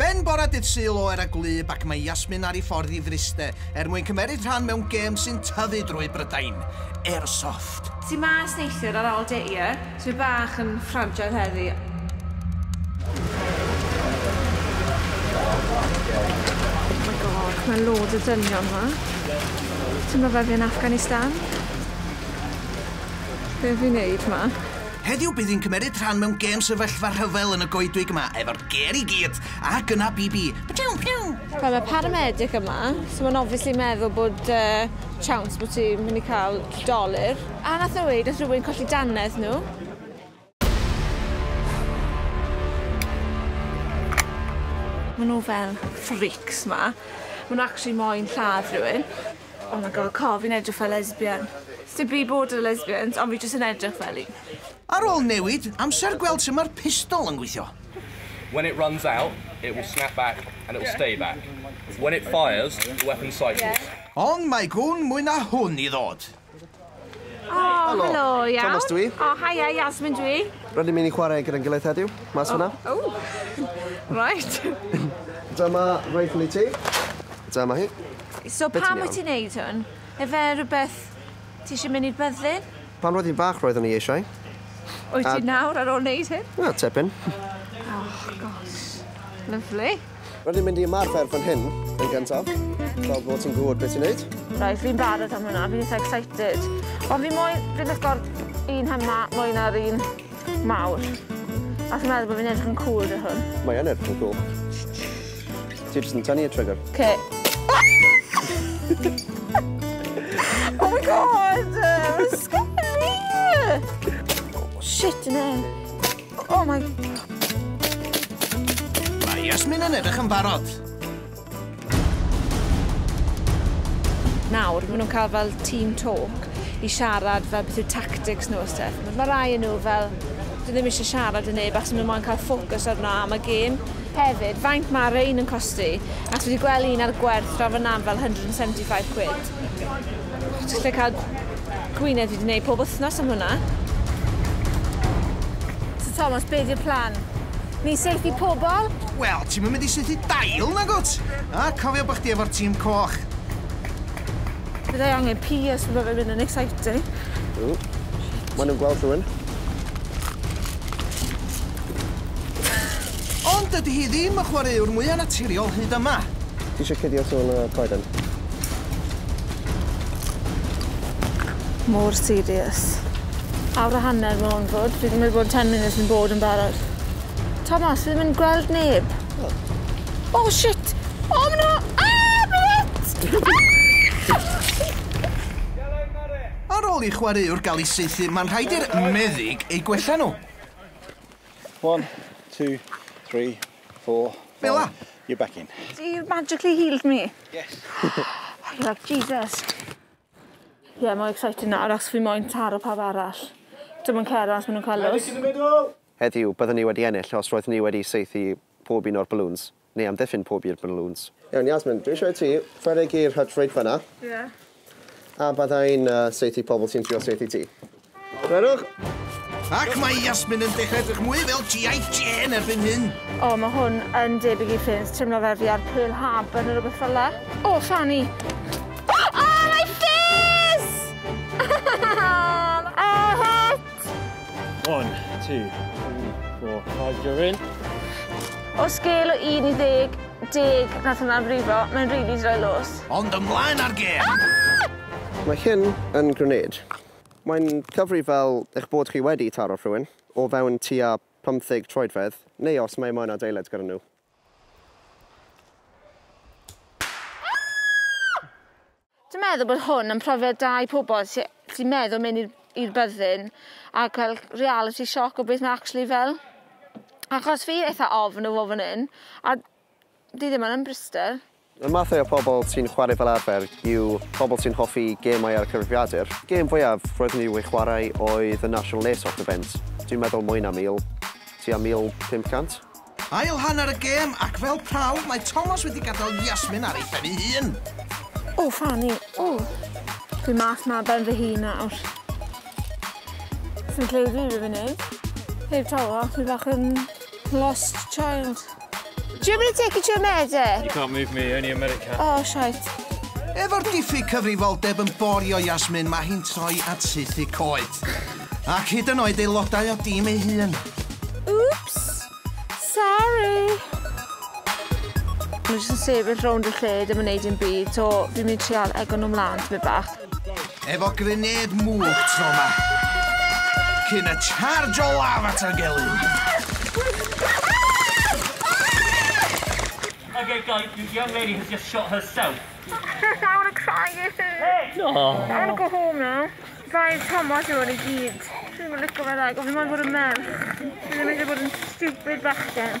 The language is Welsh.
Ben bora dydd Sul oer a gwlyb ac mae Yasmin ar ei ffordd i Fryste er mwyn cymeryd rhan mewn gêm sy'n tyfu drwy Brydain, Airsoft. Ti mas neithiwr ar ol dy ie? Dwi bach yn fframjoedd heddi. Mae loads o dynion ma. Timlo fel fi yn Afghanistan? Be fi'n neud ma? Heddiw bydd hi'n cymeryd rhan mewn gêm sefyllfa rhyfel yn y goedwig yma efo'r ger i gyd ac yna BB. Ptiw ptiw! Wel mae paramedic yma, so mae'n obviously meddwl bod uh, chance bod ti'n mynd i cael dolur. A nath nhw weud, nath rhywun colli dannedd nhw. Maen nhw fel freaks ma. Maen nhw actually moyn lladd rhywun. Oh my God, co, fi'n edrych fel lesbian. Sdim byd bod yn lesbians, ond fi jyst yn edrych fel un. Ar ôl newid amser gweld sut mae'r pistol yn gweithio. When it runs out, it will snap back and it will stay back. When it fires, the weapon cycles. Ond mae gwn mwy na hwn i ddod. O, helo. Helo, iawn. Thomas dwi. O, haia, Yasmin dwi. Rydyn ni'n mynd i chwarae gyda'n gilydd heddiw, mas hwnna. O, o. Right. Dyma rifle i ti. Dyma hi. So pam wyt ti'n neud hwn? Efe rhywbeth ti eisiau mynd i'r byddin? Pan roedd i'n fach roeddwn i eisiau. Wyt ti nawr ar ôl neud hyn? Wel, tipyn. O, gosh. Lyfli. Rydyn ni'n mynd i ymarfer fan hyn yn gyntaf, fel bod ti'n gwybod beth ti'n neud. Right, fi'n barod am hwnna, fi'n eitha excited. Ond fi moyn, fi'n licor un hynna mwy na'r un mawr. A fi'n meddwl bod fi'n edrych yn cool dy hwn. Mae yn edrych yn cool. Ti jyst yn tynnu y trigger. Okay. oh my god! Mae'n sgwni! Oh, shit, yna. Oh my... Mae Yasmin yn edrych yn barod. Nawr, maen nhw'n cael fel team talk i siarad fel beth yw tactics nhw a stuff. Mae rai yn nhw fel, dwi ddim eisiau siarad yn neb achos maen nhw'n cael ffocws arno am y gêm. Hefyd, faint mae Rain yn costi? Ac dwi wedi gweld un ar gwerth draw fan fel 175 quid. Llechad Gwynedd fi 'di neud pob wthnos am hwnna. Sir Thomas be' 'di'r plan? Ni'n saethu pobol? Wel ti'm yn mynd i saethu dail nag wt? A cofio bo' chdi efo'r tîm coch. Fyddai angen pious ma' fe'n mynd yn exciting. Ww. Shit. Ma' nw'n gweld rhywun. Ond dydi hi ddim y chwaraewr mwya naturiol hyd yma. Ti isio cuddio tôn y coeden? Mor serious. Awr a hanner ma' 'wn fod. Fi 'di meddwl bod ten munud yn bod yn barod. Tomos fi ddim yn gweld neb. O! O shit! O ma' 'na ah ma' 'na Ar ôl i chwaraewr ga'l 'i saethu ma'n rhaid i'r meddyg eu gwella nhw. One, two, three, four, five. Fela? You're back in. You magically healed me? Yes. oh, you like Jesus. Ie, yeah, mae'n exciting nawr, achos fi moyn taro pawb arall. Dim ond Cera, os maen nhw'n cael lws. Heddiw, byddwn ni wedi ennill os roedd ni wedi seithi pob un o'r balloons. Neu amddiffyn pob un o'r lŵns. Iawn Yasmin, dwi eisiau i ti rhedeg i'r hydrate fan'na. Ie. A byddai'n saethu pobl sy'n trio saethu ti. Gwerwch! Ac mae Yasmin yn dechrau edrych mwy fel GI Jane erbyn hyn. O, mae hwn yn debyg i Ffins, teimlo fel fi ar Pearl Harbour neu rhywbeth fel 'na. O, Fanny! Oh, my face! Aha! One, two, three, four, five, you're in. O sgêl o 1 i 10, 10 nath hwnna frifo, mae'n rili droi lws. Ond ymlaen â'r gêm! Ah! Mae hyn yn grenade. Mae'n cyfri fel eich bod chi wedi taro rhywun, o fewn tua 50 troedfedd, neu os mae moyn adeilad gyda nhw. Dwi'n meddwl bod hwn yn profiad da i pobol sy sy'n meddwl mynd i'r i'r byddin a ca'l realiti sioc o beth ma' actually fel. Achos fi eitha ofn o fo' fan 'yn a 'di ddim yn yn Bristol. Y mathau o pobol sy'n chwarae fel arfer yw pobol sy'n hoffi gêmau ar y cyfrifiadur. Gêm fwyaf roeddwn i wedi chwarae oedd y National Lace Off Event, dwi'n meddwl mwy na mil, tua 1,500. Ail hanner y gêm ac fel prawf mae Tomos wedi gadael Yasmin ar ei phen ei hun. O, Fanny, o! Dwi mas ma ben fy hun nawr. Dwi'n credu dwi wedi wneud. Heb tawa, dwi bach yn lost child. Do you want me to take you to a murder? You can't move me, only America. Oh, shite. Efo'r diffyg cyfrifoldeb yn borio Yasmin, mae hi'n troi at saethu coed. Ac hyd yn oed aelodau o dîm ei hun. Oops! Sorry! Nhw jyst yn sefyll rownd y lle, ddim yn neud dim byd, so fi'n mynd i trial ego nhw mlan tipyn bach. Efo grenêd mwg tro ma. Cyn y charge o laf at y gelyn. Okay, guys, this young lady has just shot herself. Sis, I want to cry, this is... Hey! No. I want to go home now. Dau Thomas yw hwn i gyd. Dwi ddim yn licio fe dda, gofyn moyn bod yn merch. Dwi ddim eisiau bod yn stupid bachgen.